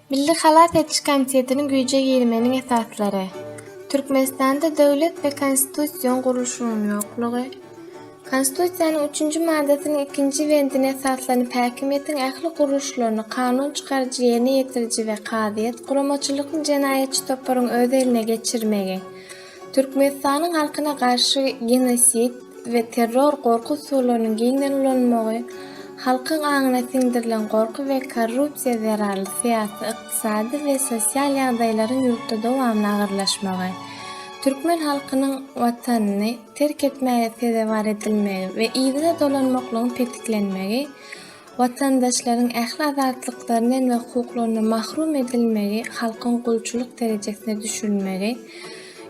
Milli halas ediş komitetiniň güýje girmeginiň esaslary, Türkmenistanda döwlet we konstitusion gurluşygyň ýoklugy, Konstitusiýanyň üçünji maddasynyň ikinji bendine esaslanyp häkimiýetiň ähli gurluşlaryny kanun çykaryjy, ýerine ýetiriji we kazyýet, guramaçylykly jenaýatçy toparyň öz eline geçirmegi, Türkmenistanyň halkyna garşy genosid we terror gorky usullarynyň giňden ulanylmagy, halkyň aňyna siňdirilen gorky we korrupsiýa zerarly syýasy, ykdysady we sosial ýagdaýlaryň ýurtda dowamly agyrlaşmagy, türkmen halkynyň Watanyny terk etmäge sezewar edilmegi we yzyna dolanmaklygyň petiklenmegi, Watandaşlaryň ähli azatlyklaryndan we hukuklaryndan mahrum edilmegi, halkyň gulçulyk derejesine düşürilmegi,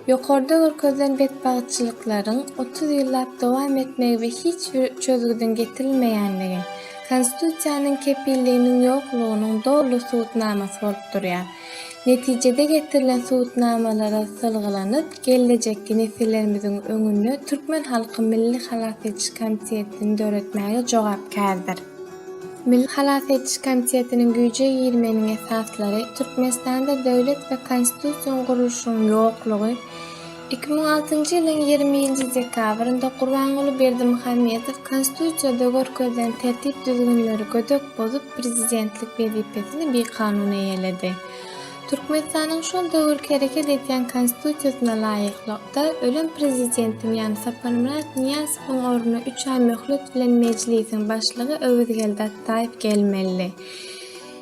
ýokarda görkezilen betbagtçylyklaryň otuz ýyllap dowam etmegi we hiç bir çözgüdiň getirilmeýänligi, Konstitusiýanyň kepilliginiň ýoklugynyň doly subutnamasy bolup durýar. Netijede getirilen subutnamalara salgylanyp, gellejekki nesillerimiziň öňünde türkmen halky milli halas ediş komitetini döretmäge jogapkärdir. Milli halas ediş komitetiniň güýje girmeginiň esaslary Türkmenistanda döwlet we konstitusion gurluşygyň ýoklugy, Iki müň altynjy ýylyň ýigrimi nji dekabrynda Gurbanguly Berdimuhamedow Konstitusiýada görkezilen tertip-düzgünleri gödek bozup, prezidentlik wezipesini bikanun eýeledi. Türkmenistanyň şol döwürki hereket edýän Konstitusiýasyna laýyklykda, ölen prezidentiň, ýagny Saparmyrat Nyýazowyň ornuna üç aý möhlet bilen Mejlisiň Başlygy Öwezgeldi Atdaýew gelmelidi.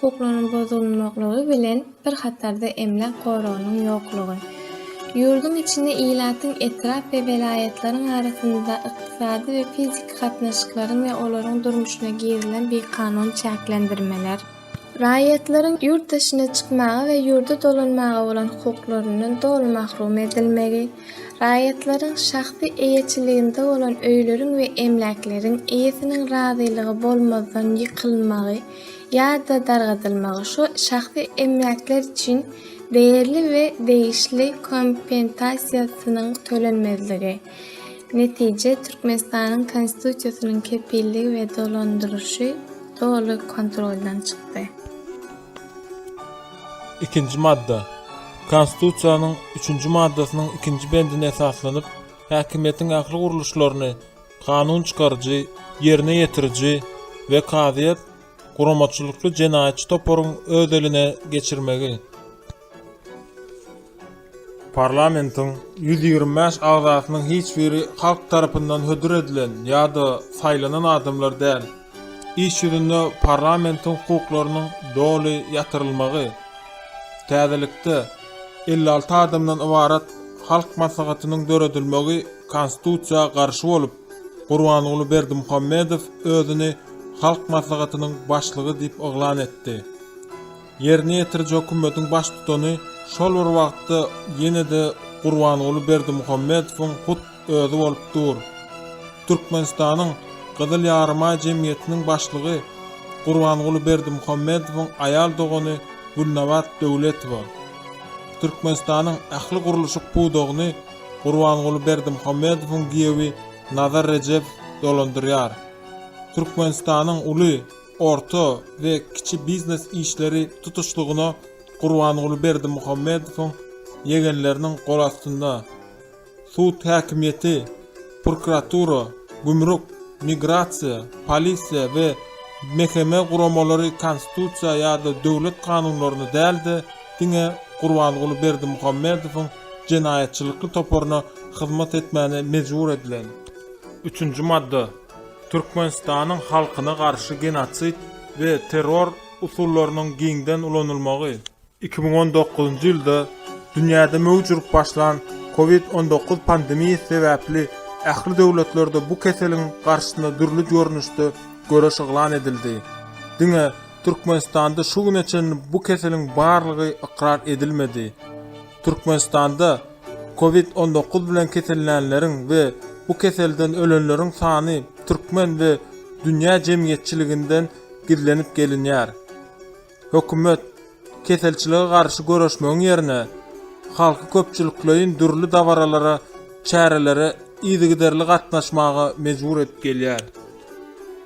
hukuklarynyň bozulmaklygy bilen bir hatarda emläk goragynyň ýoklugy, ýurduň içinde ilatyň etrap we welaýatlaryň arasynda ykdysady we fiziki gatnaşyklaryň we olaryň durmuşyna girilen bikanun çäklendirmeler, raýatlaryň ýurt daşyna çykmaga we ýurda dolanmaga bolan hukuklaryndan doly mahrum edilmegi, raýatlaryň şahsy eýeçiliginde bolan öýleriň we emläkleriň eýesiniň razylygy bolmazdan ýykylmagy, ýa-da dargadylmagy şu şahsy emläkler üçin degirli we degişli kompensasiýasynyň tölenmezligi, netije, Türkmenistanyň Konstitusiýasynyň kepilligi we dolandyrylyşy doly kontroldan çykdy. Ikinji madda. Konstitusiýanyň üçünji maddasynyň ikinji bendine esaslanyp, häkimiýetiň ähli gurluşlaryny, kanun çykaryjy, ýerine ýetiriji we kazyýet guramaçylykly jenaýatçy toparyň öz eline geçirmegi. Parlamentiň ýüz ýigrimi bäş agzasynyň hiç biri halk tarapyndan hödür edilen ýa-da saýlanan adamlar däl. Iş ýüzünde parlamentiň hukuklarynyň doly ýatyrylmagy, täzelikde, elli alty adamdan ybarat Halk Maslahatynyň döredilmegi Konstitusiýa garşy bolup, Gurbanguly Berdimuhamedow özüni Halk Maslahatynyň başlygy diýip yglan etdi. Ýerine ýetiriji hökümetiň baştutany şol bir wagtda ýene-de Gurbanguly Berdimuhamedowyň hut özi bolup dur. Türkmenistanyň Gyzyl Ýarymaý jemgyýetiniň başlygy Gurbanguly Berdimuhamedowyň aýal dogany Gülnabat Döwletowa. Türkmenistanyň ähli gurluşyk pudagyny Gurbanguly Berdimuhamedowyň giýewi Nazar Rejepow dolandyrýar. Türkmenistanyň uly. orta we kiçi biznes işleri tutuşlygyna Gurbanguly Berdimuhamedowyň ýegenleriniň golastynda sud häkimiýeti, prokuratura, gümrük, migrasiýa, polisiýa we MHM guramalary konstitusiýa ýa-da döwlet kanunlaryna däl-de, diňe Gurbanguly Berdimuhamedowyň jenaýatçylykly toparyna hyzmat etmäne mejbur edilen. Üçünji madda. Türkmenistanyň halkyna garşy genosid we terror usullarynyň giňden ulanylmagy. Iki müň on dokuzynjy ýylda dünýäde möwç urup başlan Covid on dokuz pandemiýasy sebäpli ähli döwletlerde bu keseliň garşysyna dürli görnüşde göreş yglan edildi. Diňe Türkmenistanda şu güne çenli bu keseliň barlygy ykrar edilmedi. Türkmenistanda Covid on dokuz bilen kesellänleriň we bu keselden ölenleriň sany türkmen we dünýä jemgyýetçiliginden gizlenip gelinýär. Hökümet, keselçilige garşy göreşmegiň ýerine, halky köpçülikleýin dürli dabaralara, çärelere yzygiderli gatnaşmaga mejbur edip gelýär.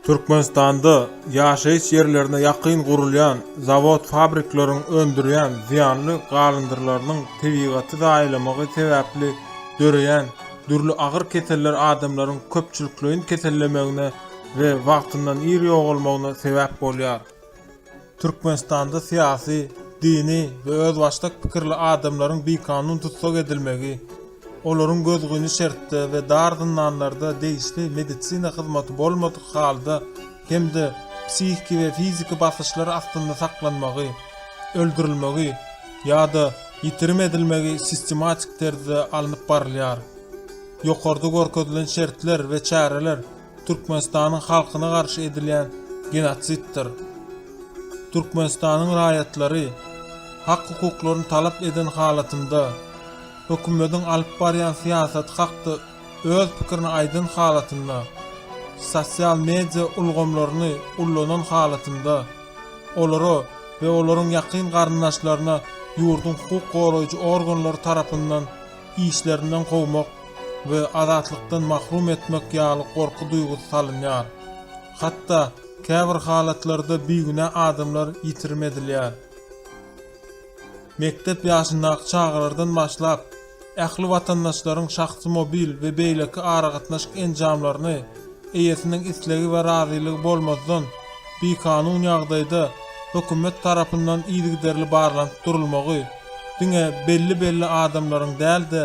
Türkmenistanda ýaşaýyş ýerlerine ýakyn gurulýan zawod-fabrikleriň öndürýän zyýanly galyndyrlarynyň tebigaty zaýalamagy sebäpli döreýän dürli agyr keseller adamlaryň köpçülikleýin kesellemegine we wagtyndan ir ýogalmagyna sebäp bolýar. Türkmenistanda syýasy, dini we özbaşdak pikirli adamlaryň bikanun tussag edilmegi, olaryň gözgyny şertde we dar zyndanlarda degişli medisina hyzmaty bolmadyk halda hem-de psihiki we fiziki basyşlar astynda saklanmagy, öldürilmegi ýa-da ýitirim edilmegi sistematik terzde alnyp barylýar. Ýokarda görkezilen şertler we çäreler Türkmenistanyň halkyna garşy edilýän genotsiddir. Türkmenistanyň raýatlary hak-hukuklaryny talap eden halatynda, hökümediň alyp barýan syýasaty hakda öz pikirini aýdan halatynda, sosial media ulgamlaryny ullanan halatynda, olara we olaryň ýakyn garyndaşlaryna ýurduň hukuk goraýjy organlary tarapyndan işlerinden kowmak we azatlykdan mahrum etmek ýaly gorky duýgusy salynýar. Hatda, käbir halatlarda bigünä adamlar ýitirim edilýär. Mekdep ýaşyndaky çagalardan başlap, ähli watandaşlaryň şahsy mobil we beýleki aragatnaşyk enjamlaryny eýesiniň islegi we razylygy bolmazdan bikanun ýagdaýda hökümet tarapyndan yzygiderli barlanyp durulmagy, diňe belli-belli adamlaryň däl-de,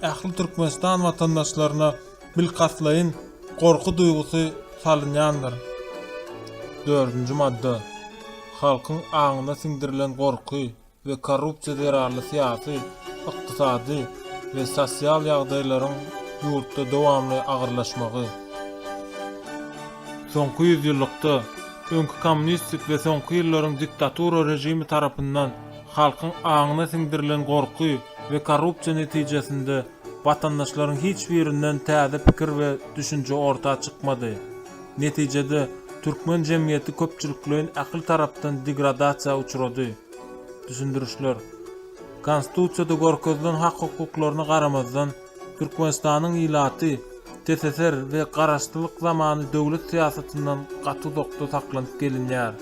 ähli Türkmenistan watandaşlaryna bilkastlaýyn gorky duýgusy salynýandyr. Dördünji madda. Halkyň aňyna siňdirilen gorky we korrupsiýa zerarly syýasy, ykdysady we sosial ýagdaýlaryň ýurtda dowamly agyrlaşmagy. Soňky ýüzýyllykda, öňki kommunistik we soňky ýyllaryň diktatura režimi tarapyndan, Halkyň aňyna siňdirilen gorky we korrupsiýa netijesinde watandaşlaryň hiç birinden täze pikir we düşünje orta çykmady. Netijede, türkmen jemgyýeti köpçülikleýin ähli tarapdan degradasiýa uçrady. Düşündirişler. Konstitusiýada görkezilen hak-hukuklaryna garamazdan, Türkmenistanyň ilaty TSSR we garaşsyzlyk zamany döwlet syýasatyndan gaty uzakda saklanyp gelinýär.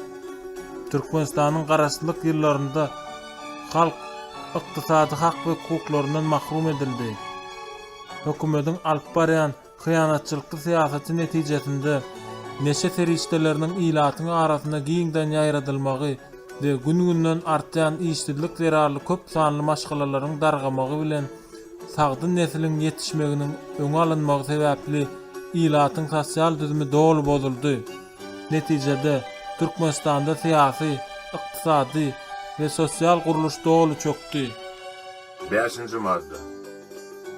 Türkmenistanyň garaşsyzlyk ýyllarynda halk ykdysady hak we hukuklaryndan mahrum edildi. Hökümetiň alyp barýan hyýanatçylykly syýasaty netijesinde neşe serişdeleriniň ilatyň arasynda giňden ýaýradylmagy we gün-günden artýan işsizlik zerarly köp sanly maşgalalaryň dargamagy bilen sagdyn nesliň ýetişmeginiň öňe alynmagy sebäpli ilatyň sosial düzümi doly bozuldy. Netijede, Türkmenistanda syýasy, ykdysady we sosial gurluş doly çökdi. Bäşinji madda.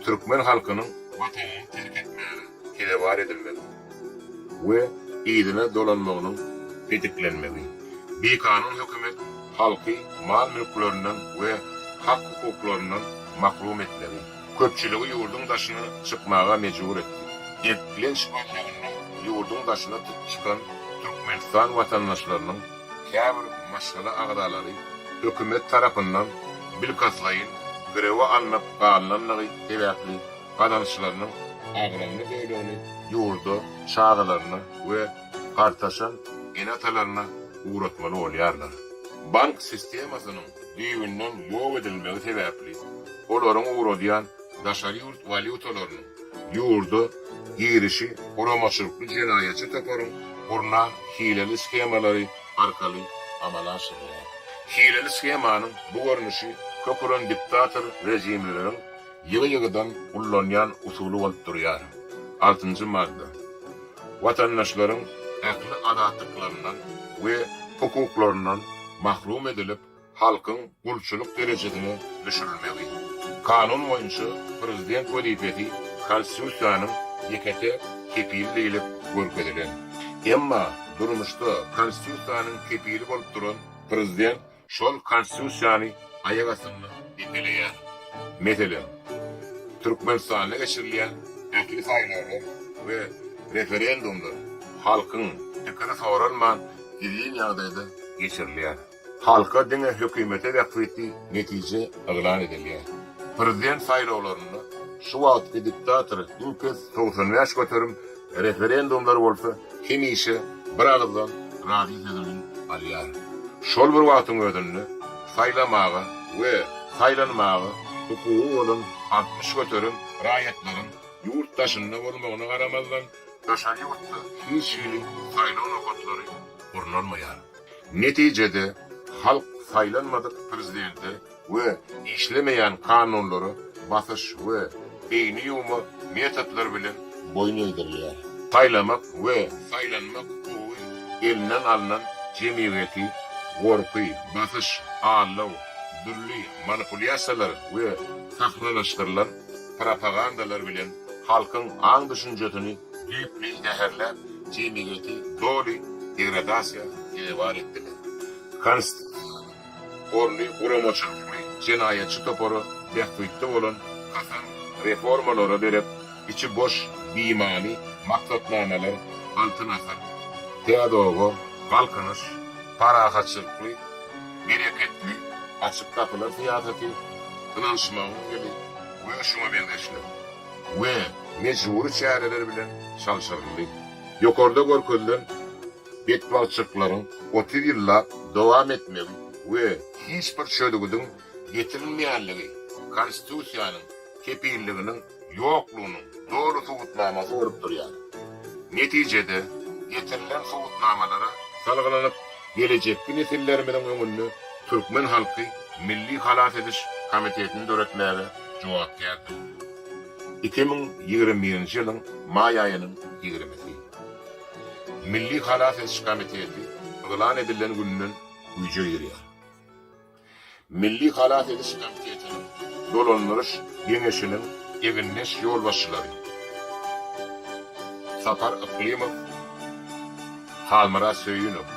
Türkmen halkynyň Watanyny terk etmäge sezewar edilmegi. we yzyna dolanmagynyň petiklenmegi, bikanun hökümet halky mal-mülklerinden we hak-hukuklaryndan mahrum etmegi, köpçüligi ýurduň daşyna çykmaga mejbur etdi. Eklenç gözleginde ýurduň daşyna çykan Türkmenistan watandaşlarynyň käbir maşgala agzalary hökümet tarapyndan bilkastlaýyn girewe alnyp galnandygy sebäpli gazançlarynyň agramly bölegini ýurda çagalaryna we gartaşan ene-atalaryna ugratmaly bolýarlar. Bank sistemasynyň düýbünden ýok edilmegi sebäpli, olaryň ugradýan daşary ýurt walýutalarynyň ýurda girişi guramaçylykly jenaýatçy toparyň gurnan hileli skemalary arkaly amala aşyrylýar. Hileli skemanyň bu görnüşi köküren diktator rejimleriň Ýygy-ýygydan ullanýan usuly bolup durýar. Altynjy madda. Watandaşlaryň ähli azatlyklarynyň we hukuklaryndan mahrum edilip, halkyň gulçulyk derejesine düşürilmegi. Kanun boýunça prezident wezipesi Konstitusiýanyň ýeke-täk kepili diýlip görkezilen. Emma durmuşda Konstitusiýanyň kepili bolup duran prezident Şol Konstitusiýany aýak astynda depeleýär. Meselem, Türkmenistanda geçirilýän ähli saýlawlar we referendumlar halkyň pikiri soralman gizlin ýagdaýda geçirilýär. Halka diňe hökümete bähbitli netije yglan edilýär. Prezident saýlawlarynda şu wagtky diktator iň pes togsan bäş göterim Referendumlar bolsa hemişe bir agyzdan razy sözüni alýar. Şol bir wagtyň özünde saýlamaga we saýlanmaga hukugy bolan altmyş göterim raýatlaryň ýurt daşynda bolmagyna garamazdan, daşary ýurtda hiç hili saýlaw nokatlary gurnalmaýar. Netijede, halk saýlanmadyk prezidente we işlemeýän kanunlara basyş we beýni ýuwma metodlary bilen boýun egdirilýär. Saýlamak we saýlanmak hukugy elinden alnan jemgyýeti gorky, basyş, aldaw, dürli manipulýasiýalar we sahnalaşdyrylan propagandalar bilen halkyň aň-düşünjesini düýpli zäherläp, jemgyýeti doly degradasiýa sezewar etdiler. Konst. Orly guramaçylykly jenaýatçy topary bähbitli bolan hasam reformalara derek içi boş bimany maksatnamalar Altyn asyr, Täze oba, Galkynyş, Parahatçylykly, Bereketli, Açyk gapylar syýasaty, Ynanyşmagyň ýyly we şuňa meňzeşler we mejbury çäreler bilen çalşyryldy. Ýokarda görkezilen betbagtçylyklaryň otuz ýyllap dowam etmegi we hiç bir çözgüdiň getirilmeýänligi Konstitusiýanyň kepilliginiň ýoklugynyň doly subutnamasy bolup durýar. Netijede, getirilen subutnamalara salgylanyp, gelejekki nesillerimiziň öňünde türkmen halky Milli halas ediş komitetini döretmäge jogapkärdir. Iki müň ýigrimi birinji ýylyň maý aýynyň ýigrimisi. Milli halas ediş komiteti yglan edilen günden güýje girýär. Milli halas ediş komitetiniň dolandyryş geňeşiniň egindeş ýolbaşçylary Sapar Yklymow, Halmyrat Söýünow,